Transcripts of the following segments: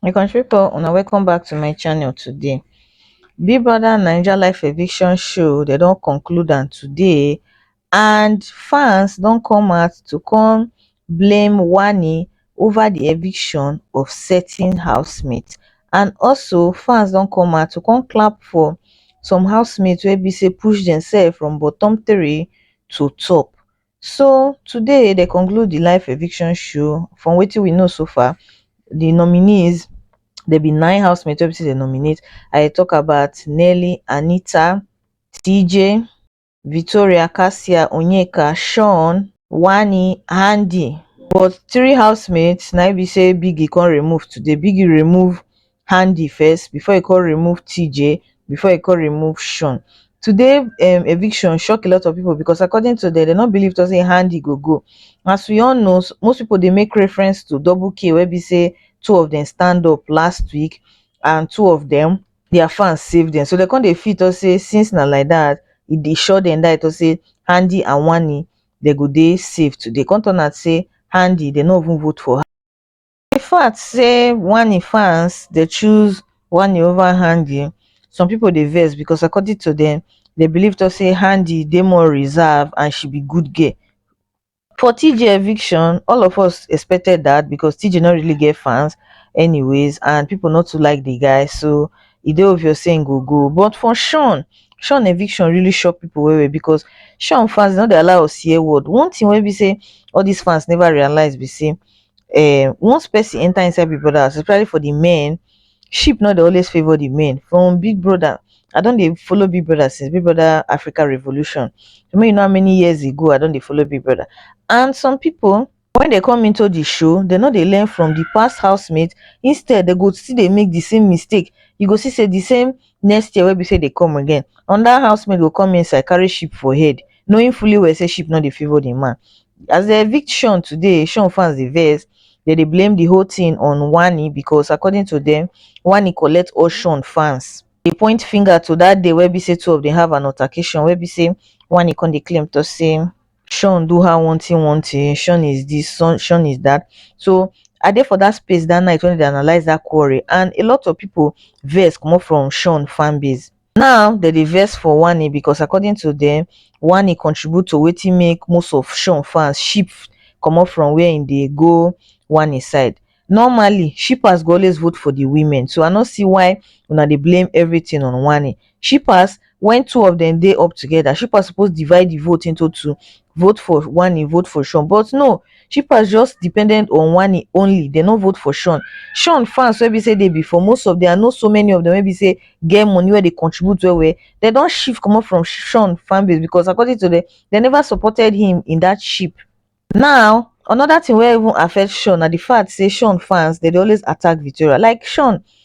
my country people una welcome back to my channel today big brother naija life eviction show they don't conclude am today and fans don't come out to come blame wani ova di eviction of certain housemates and also fans don come out to come clap for some housemates wey be say push demsef from bottom three to top so today dem conclude di live eviction show from wetin we know so far di nominees dem be nine housemates wey be say dem nominate I dey tok about Nelly, Anita, TJ. victoria cassia onyeka shaun wanie handi but three housemates na im be say biggie come remove today biggie remove handi first before e come remove tjay before e come remove shaun today um eviction shock a lot of people because according to dem dem no believe at all say handi go go as we all know most people dey make reference to double k wey be say two of dem stand up last week and two of dem their fans save dem so dem come dey feel talk say since na like that e dey sure dem die talk say Handi and Wanni dem go dey safe today come turn out say Handi dem no even vote for her the fact say Wanni fans dey choose Wanni over Handi some people dey vex because according to dem dem believe talk say Handi dey more reserved and she be good girl for TJ eviction all of us expected that because TJ not really get fans anyways and people not to like the guy so e dey obvious saying go go but for Sean Sean eviction really shock people well well because Sean fans not dey allow us hear word one thing wey be say all these fans never realize be say um once person enter inside Big Brother house especially for the men sheep no dey always favour the male from big brother i don dey follow big brother since big brother africa revolution so make you know how many years ago i don dey follow big brother and some people when they come into the show they no dey learn from the past housemate instead they go still dey make the same mistake you go see say the same next year wey be say they come again another housemate go come inside carry sheep for head knowing fully well say sheep no dey favour the man as dem evict shawn today shawn fans dey vex dem dey blame the whole thing on wanni because according to dem wanni collect all shawn fans dey point finger to that day wey be say two of dem have an altercation wey be say wanni come dey claim to say shawn do her one thing one thing shawn is this shawn shawn is that so i dey for that space that night when dem dey analyse that quarrel and a lot of people vex comot from shawn fanbase now dem dey vex for wanni becos according to dem wanni contribute to wetin make most of sean fans ship comot from wia im dey go wanni side normally shippers go always vote for di women so i no see why una dey blame evritin on wanni shippers wen two of dem dey up togeda shippers suppose divide di vote into two vote for wanni vote for shawn but no shippers just depended on wanni only dem no vote for shawn shawn fans wey be say dey before most of dem i know so many of dem wey be say get money wey dey contribute well well dem don shift comot from shawn fan base because according to dem dem never supported him in that ship now another thing wey even affect shawn na the fact say shawn fans dem dey always attack victoria like shawn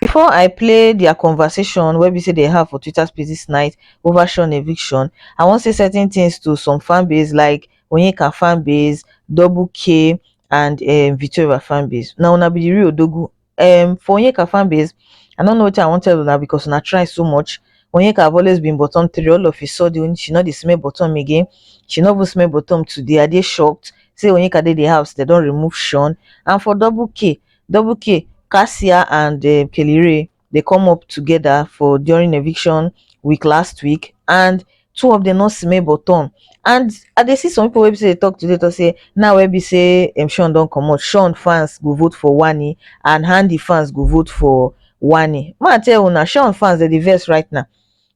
before i play their conversation wey be say dem have for twitter spaces night over sean eviction i wan say certain things to some fanbase like onyeka fanbase double k and um victoria fanbase na una be the real odogwu um for onyeka fanbase i no know wetin i wan tell una because una try so much onyeka have always been bottom three all of a sudden she no dey smell bottom again she no even smell bottom today i dey shocked say onyeka dey the house dem don remove sean and for double k double k cassia and um kelly rae dey come up togeda for during eviction week last week and two of dem no see mey but turn and i dey see some pipo wey be sey dey tok today tok sey now wey be sey um shawn don comot shawn fans go vote for wanni and handi fans go vote for wanni ma tell una shawn fans dem dey vex right now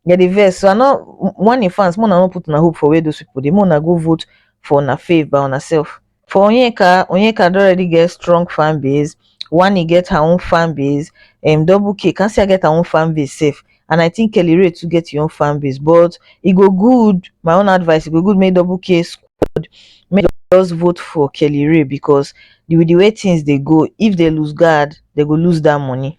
dem dey vex so i no wanni fans mey una no put una hope for where dose pipo dey mey una go vote for una fave by una self for onyeka onyeka don already get strong fan base wanni get her own fan base um double k kassia get her own fan base sef and i think kelly rae too get im own fan base but e go good my own advice e go good make double k squad make dem just vote for kelly rae because with the way things dey go if dem loose guard dem go loose that money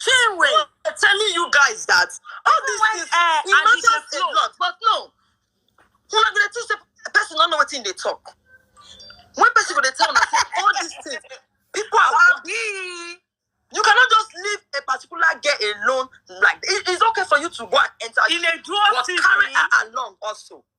Chinwe, I'm telling you guys that all these When, things eh, it and matters because a no. lot, but no. Una go dey think say person no know wetin dey talk. When person go dey tell una say all these things, people are working. You cannot just leave a particular girl alone like it, it's okay for you to go and enter, Ilé dúró but sí carry mi. her along also.